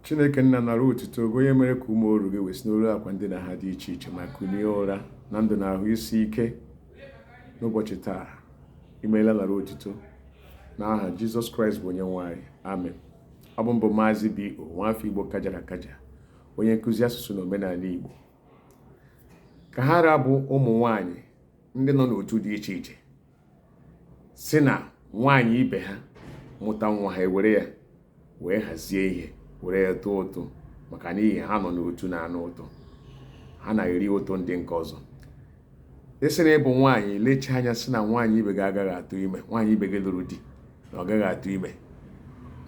chineke nna nara otuto gị onye mere ka ụmụ oru gị wee si n'elu akwa ndina ha dị iche iche ma kunie ụra na ndụ na ahụ isi ike n'ụbọchị taa imeela nara otuto na aha jizọs kraịst bụ onye nwe anyị amen ọ bụ m bụ maazị b o nwafọ igbo kajara akaja onye nkụzi asụsụ na omenala igbo ka ha ra bụ ụmụ nwanyị ndị nọ n'otu dị iche iche sị na nwaanyị ibe ha mụta nwa ha ewere ya wee hazie ihe were ya tụọ ụtụ maka n'ihi ha nọ n'otu na-ana ụtụ ha na-eri ụtụ ndị nke ọzọ ị sị na ị bụ nwaanyị lechi anya sị na nwaanyị ibe gị agaghị atụ ime nwaanyị ibe gị lụrụ di na ọ gaghị atụ ime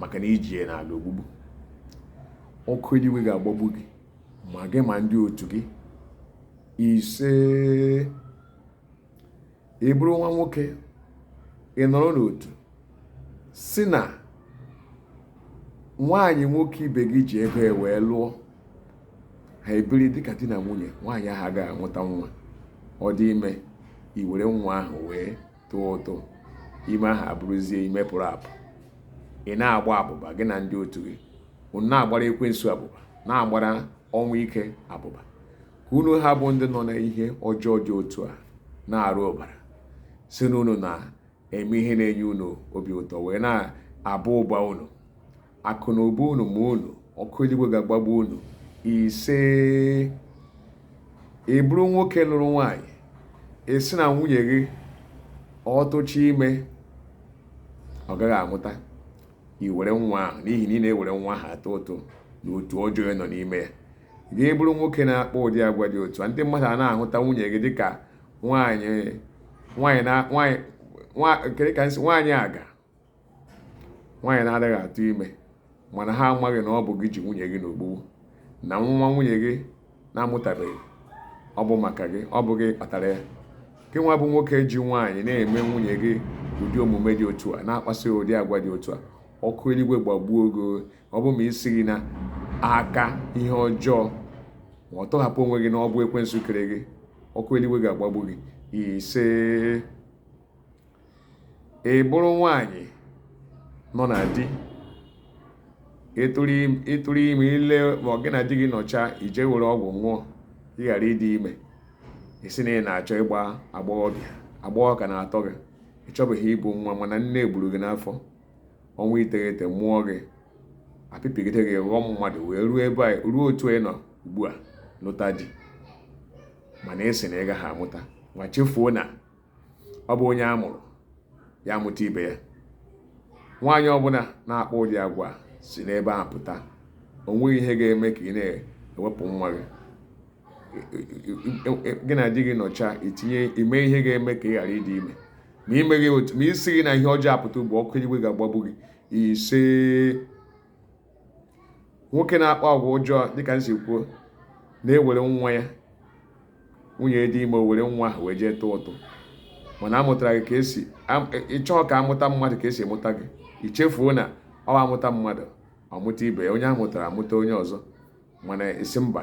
maka na i ji ya n'ala ogbugbu ọkụ eluigwe ga-agbagbu gị ma gị ma ndị otu gị ise ị bụrụ nwa nwoke ị nọrọ n'otu sị na nwaanyị nwoke ibe gị ji ego ya wee lụọ ha ebiri dịka di na nwunye nwaanyị ahụ agaghị amụta nwa ọ dị ime i were nwa ahụ wee tụọ ụtụ ime ahụ abụrụzie ime pụrụ apụ ị na-agba abụba gị na ndị otu gị unu na-agbara ekwensu abụba na-agbara ọnwụ ike abụba ka unu ha bụ ndị nọ na ihe ọjọọ dị otu a na-ara ọbara sị na unu na-eme ihe na-enye unu obi ụtọ wee na-aba ụba unu akụ na ụba unu ma unu ọkụ eluigwe ga-agbagbu unu ise ị bụrụ nwoke lụrụ nwaanyị ị sị na nwunye gị ọ tụcha ime ọ gaghị amụta i were nwa ahụ n'ihi na ị na-ewere nwa ahụ atụ ụtụ na otu ọjọọ ị nọ n'ime ya gị bụrụ nwoke na-akpa ụdị agwa dị otu a ndị mmadụ ana-ahụta nwunye gị dịka nwaanyị nwaanyị na nwaanyị kedu ka nsị nwaanyị aga nwaanyị na-adịghị atụ ime mana ha amaghị na ọ bụ gị ji nwunye gị n'ogbugbu na nwa nwunye gị na-amụtabeghị ọ bụ maka gị ọ bụ gị kpatara ya gị nwa bụ nwoke ji nwaanyị na-eme nwunye gị ụdị omume dị otu a na-akpasị ụdị agwa dị otu a ọkụ eluigwe gbagbuo gị ọ bụ ma ị sị gị na aka ihe ọjọọ ma ọ tọhapụ onwe gị na ọ bụ ekwensu kere gị ọkụ eluigwe ga-agbagbu gị ise ị bụrụ nwaanyị nọ na di ịtụrụ ime ile ma ọ gị na di gị nọcha i jee were ọgwụ ṅụọ ị ghara ịdị ime ị sị na ị na-achọ ịgba agbọghọbịa agbọghọ ka na-atọ gị ị chọbeghị ịmụ nwa mana nne egburu gị n'afọ ọnwa iteghete mụọ gị apịpịgide gị ghọọ mmadụ wee ruo otu ị nọ ugbu a lụta di mana ị sị na ị gaghị amụta nwa chefuo na ọ bụ onye a mụrụ ya amụta ibe ya nwaanyị ọbụla na-akpa ụdị agwa a si n'ebe a pụta o nweghị ihe ga-eme ka ị na-ewepụ nwa gị gị na di gị nọcha ị mee ihe ga-eme ka ị ghara ịdị ime ma ị meghị otu ma ị sighị n'ihe ọjọọ a pụta ugbu a ọkụ eluigwe ga-agbagbu gị ise nwoke na-akpa agwa ọjọọ dịka m si kwuo na-ewere nwa ya nwunye dị ime o were nwa ahụ wee jee tụọ ụtụ mana a mụtara gị ka e si ị chọghị ka a mụta mmadụ ka e si mụta gị i chefuo na ọ a mụta mmadụ ọ mụta ibe ya onye a mụtara amụta onye ọzọ mana ị sị mba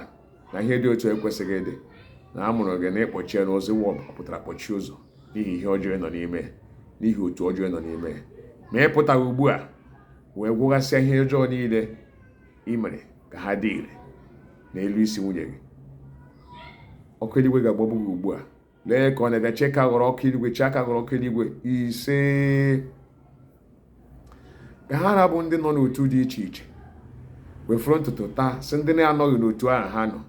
na ihe dị otu a ekwesịghị ịdị na a mụrụ gị na ị kpọchie na ozigbo ị pụtara kpọchie ụzọ n'ihi ihe ọjọọ ị nọ n'ime n'ihi otu ọjọọ ị nọ n'ime ma ị pụtaghị ugbu a wee gwụghasịa ihe ọjọọ niile ị mere ka ha dị ire n'elu isi nwunye gị ọkụ eluigwe ga-agbagbu gị ugbu a lee ka ọ na-abịa chee aka ghọrọ ọkụ eluigwe chee aka ghọrọ ọkụ eluigwe ise ka ha ra bụ ndị nọ n'otu dị iche iche wefuru ntutu taa sị ndị na-anọghị n'otu ahụ ha nọ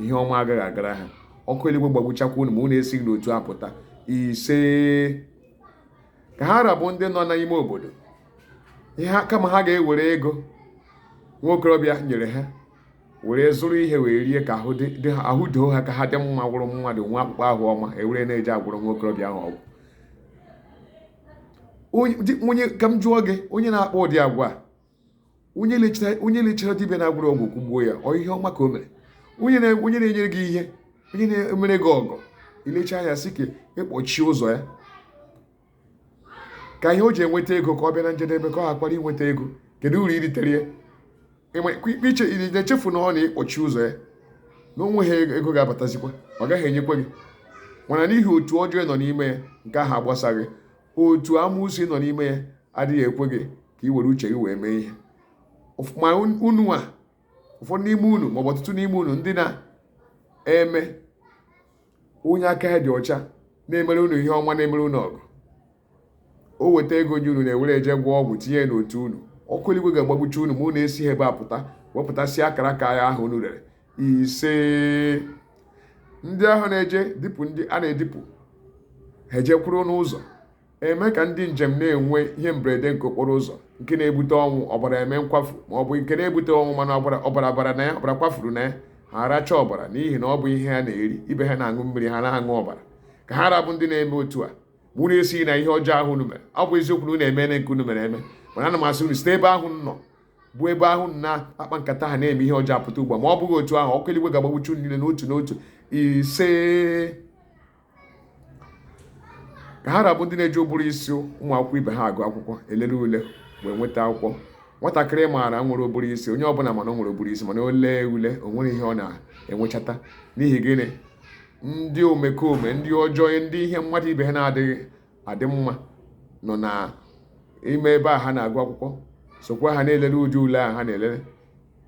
ihe ọma agaghị agara ha ọkụ eluigwe gbagbuchakwa unu ma unu esighị n'otu a pụta ise ka ha ra bụ ndị nọ n'ime obodo ihe kama ha ga-ewere ego nwa okorobịa nyere ha were zụrụ ihe wee rie ka ahụ doo ha ka ha dị mma bụrụ mmadụ nwee akpụkpọ ahụ ọma ewere na-eje agwọrọ nwa okorobịa ahụ ọgwụ onye ka m jụọ gị onye na-akpa ụdị agwa a onye lechara dibịa na-agwọrọ ọgwụ kụgbuo ya ọ ihe ọma ka o mere onye na-enyere gị ihe onye na-emere gị ọgọ i lecha anya sị ka ị kpọchie ụzọ ya ka ihe o ji enweta ego ka ọ bịa na njedebe ka ọ hakwara inweta ego kedu uru i ritere ya ị na-echefu na ọ na ị kpọchie ụzọ ya na o nweghị ego ga-abatazikwa ọ gaghị enyekwa gị mana n'ihi otu ọjọọ ị nọ n'ime ya nke ahụ agbasaghị otu amusu ị nọ n'ime ya adịghị ekwe gị ka ị were uche gị wee mee ihe ma unu a ụfọdụ n'ime unu maọbụ ọtụtụ n'ime unu ndị na-eme onye aka ya dị ọcha na-emere unu ihe ọma na-emere unu ọgọ o weta ego nye unu na-ewere eje gwọọ ọgwụ tinye n'otu unu ọkụ eluigwe ga-agbagbucha unu ma unu esighị ebe a pụta wepụtasịa akara aka ya ahụ unu rere ise ndị ahụ na-eje dipụ ndị a na-edipụ ha ejekwuru n'ụzọ eme ka ndị njem na-enwe ihe mberede nke okporo ụzọ nke na-ebute ọnwụ ọbara eme nkwafu ma ọ bụ nke na-ebute ọnwụ mana ọbara ọbara bara na ya ọbara kwafuru na ya ha aracha ọbara n'ihi na ọ bụ ihe ha na-eri ibe ha na-aṅụ mmiri ha na-aṅụ ọbara ka ha ra bụ ndị na-eme otu a ma unu esighị na ihe ọjọọ ahụ unu mere ọ bụ eziokwu na unu eme nke unu mere eme mana ana m asị unu site ebe ahụ nọ bụ ebe ahụ na-akpa nkata ha na-eme ihe ọjọọ apụta ugbu a ma ọ bụghị otu ahụ ọkụ eluigwe ga-agbagbucha unu niile n'otu n'otu ise ka ha ra bụ ndị na-eji ụbụrụ isi ụmụ akwụkwọ ibe ha agụ akwụkwọ elele ule wee nweta akwụkwọ nwatakịrị maara nwere ụbụrụ isi onye ọbụla ma na o nwere ụbụrụ isi mana o lee ule o nwere ihe ọ na-enwechata n'ihi gịnị ndị omekome ndị ọjọọ ndị ihe mmadụ ibe ha na-adịghị adị mma nọ na ime ebe a ha na-agụ akwụkwọ sokwa ha na-elele ụdị ule a ha na-elele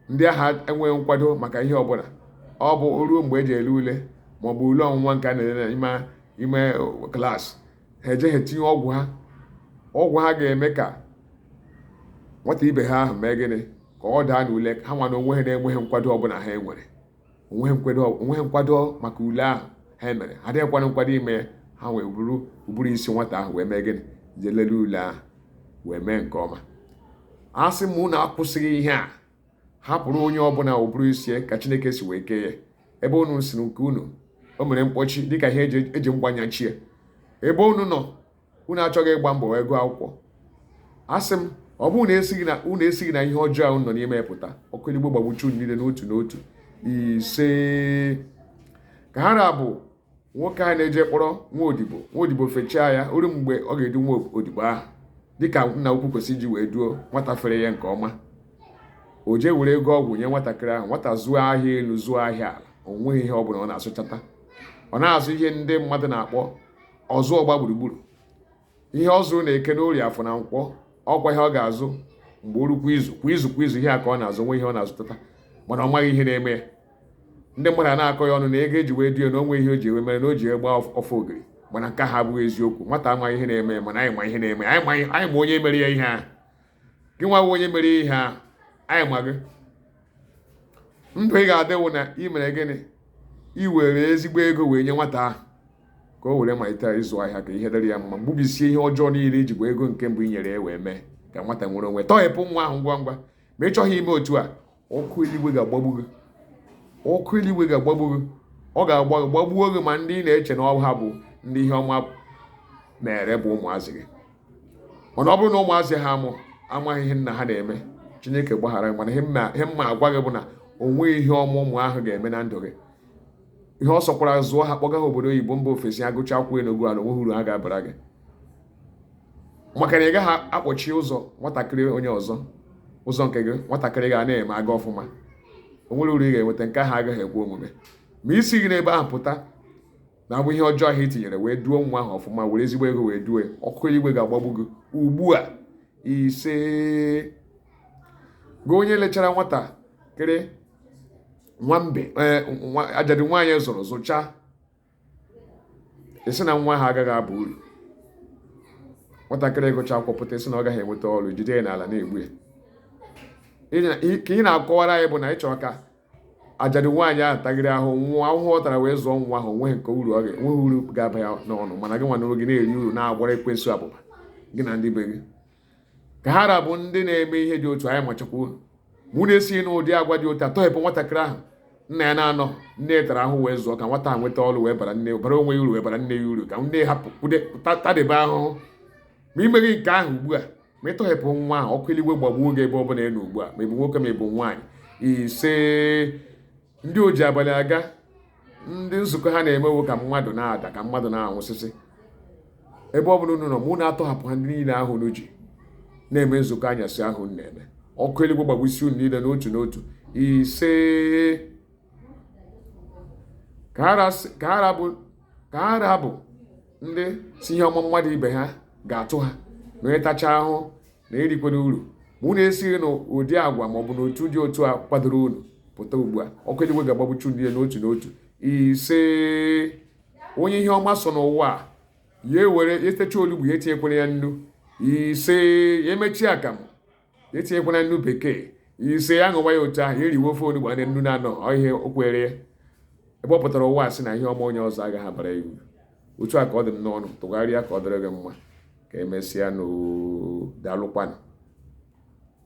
ndị a ha enweghị nkwado maka ihe ọbụla ọ bụ o ruo mgbe eji ele ule maọbụ ule ọnwụnwa nke a na-ele n'ime klaasị ha ejee tinye ọgwụ ha ọgwụ ha ga-eme ka nwata ibe ha ahụ mee gịnị ka ọ daa n'ule ha nwa na onwe ha na-enweghị nkwado ọbụla ha enwere onweghị nkwado maka ule ahụ ha mere ha adịghịkwa na nkwado ime ya ha wee buru ụbụrụ isi nwata ahụ wee mee gịnị jee lele ule ahụ wee mee nke ọma asị m unu akwụsịghị ihe a hapụrụ onye ọbụla ụbụrụ isi ya ka chineke si wee kee ya ebe unu sịrị nke unu o mere mkpọchi dịka ihe eji mgba nyachie ebe unu nọ unu achọghị ịgba mbọ wee gụọ akwụkwọ asị m ọ bụrụ na esighị na unu esighị na ihe ọjọọ ahụ nọ n'ime pụta ọkụ eluigwe gbagbuchaa unu niile n'otu n'otu ise ka ha ra bụ nwoke a na-eje kpọrọ nwa odibo nwa odibo fechaa ya o ruo mgbe ọ ga-edu nwa odibo ahụ dịka nna ukwu kwesịrị iji wee duo nwata fere ya nke ọma o jee were ego ọgwụ nye nwatakịrị ahụ nwata zụọ ahịa elu zụọ ahịa ala o nweghị ihe ọ bụla ọ na-azụchata ọ na-azụ ihe ndị mmadụ na-akpọ ọzụ ọgba gburugburu ihe ọ zụrụ na eke n'orie afọ na nkwọ ọkwa ihe ọ ga-azụ mgbe o ru kwa izu kwa izu kwa izu ihe a ka ọ na-azụ o nweghị ihe ọ na-azụtata mana ọ maghị ihe na-eme ya ndị mmadụ na-akọ ya ọnụ na ego eji wee duo ya na onweghị ihe o ji wee mere na o ji wee gba ofe ogiri mana nke ha abụghị eziokwu nwata amaghị ihe na-eme ya mana anyị ma ihe na-eme ya anyị ma onye mere ya ihe ahụ gị nwa wụ onye mere ihe ahụ anyị ma gị ndụ ị ga-adị wụ na ị mere gịnị i were ezigbo ego wee nye nwata ahụ ka o were malite ịzụ ahịa ka ihe dịrị ya mma gbubisie ihe ọjọọ niile i ji gwọ ego nke mbụ i nyere ya wee mee ka nwata nwere onwe tọghepụ nwa ahụ ngwa ngwa ma ị chọghị ime otu a ọkụ eluigwe ga-agbagbu gị ọkụ eluigwe ga-agbagbu gị ọ ga-agba gị gbagbuo gị ma ndị ị na-eche na ọ ha bụ ndị ihe ọma mere bụ ụmụazị gị mana ọ bụrụ na ụmụazị ahụ amaghị ihe nna ha na-eme chineke gbaghara ha mana ihe m na-agwa gị bụ na o nweghị ihe ọma ụmụ ahụ ga-eme na ndụ gị ihe ọ sọkwara zụọ ha kpọga ha obodo oyibo mba ofesi agụcha akwụkwọ elu gụọ ala onweghị uru ha ga-abara gị maka na ị gaghị akpọchi ụzọ nwatakịrị onye ọzọ ụzọ nke gị nwatakịrị ga na-eme aga ọfụma o nwere uru ị ga-enweta nke ahụ agaghị ekwe omume ma i sighị n'ebe ahụ pụta na abụ ihe ọjọọ ahụ i tinyere wee duo nwa ahụ ọfụma were ezigbo ego wee duo ọkụ eluigwe ga-agbagbu gị ugbu a ise gị onye lechara nwatakịrị nwa mgbei, ajadu nwaanyị zụrụ zụcha ị sị na nwa ahụ agaghị aba uru nwatakịrị gụcha akwụkwọ pụta ị sị na ọ gaghị enweta ọrụ jide ya n'ala na-egbu ya ka ị na-akọwara anyị bụ na ị chọrọ ka ajadu nwaanyị ahụ tagịrị ahụhụ ọ tara wee zụọ nwa ahụ nweghị nke uru ọ ga-enweghị uru ga-aba ya n'ọnụ mana gị nwa n'oge na-eri uru na-agara ekwensu abụba gị na ndị be gị ka ha ra bụ ndị na-eme ihe dị otu a anyị machakwa unu ma unu esighị n'ụdị agwa dị otu a tọghepụ nwatakịrị ahụ nna ya na-anọ nne tara ahụ wee zụọ ka nwata ahụ nweta ọrụ wee bara nne bara onwe ya uru wee bara nne ya uru ka nne hapụ kwude tadebe ahụhụ ma i meghị nke ahụ ugbu a ma ị tọghepụ nwa ahụ ọkụ eluigwe gbagbuo gị ebe ọ bụla ị nọ ugbu a ma ị bụ nwoke ma ị bụ nwaanyị ise ndị oji abalị aga ndị nzukọ ha na-emewo ka mmadụ na-ada ka mmadụ na-anwụsịsị ebe ọ bụla unu nọ ma unu atọhapụghị ndị niile ahụ unu ji na-eme nzukọ anyasị ahụ na-eme ọkụ eluigwe gbagbusie unu niile n'otu n'otu ise ka ha ra bụ ndị sị ihe ọma mmadụ ibe ha ga-atụ ha na onye tacha ahụ na erikwana uru ma unu esighị n'ụdị agwa maọbụ n'otu dị otu a kwadoro unu pụta ugbu a ọkụ eluigwe ga-agbagbucha unu n'otu n'otu ise onye ihe ọma so n'ụwa ya ewere etecha olugbu ya etinyekwala ya nnu ise ya emechie akamụ ya etinyekwala nnu bekee ise ya ṅụwa ya otu ahụ ya eriwe ofe olugbu a nnu na-anọghị o kwere ya ebe ọ pụtara ụwa sị na ihe ọma onye ọzọ agaghị abara ya uru otu a ka ọ dị m n'ọnụ tụgharịa ka ọ dịrị gị mma ka emesịanụ daalụkwanụ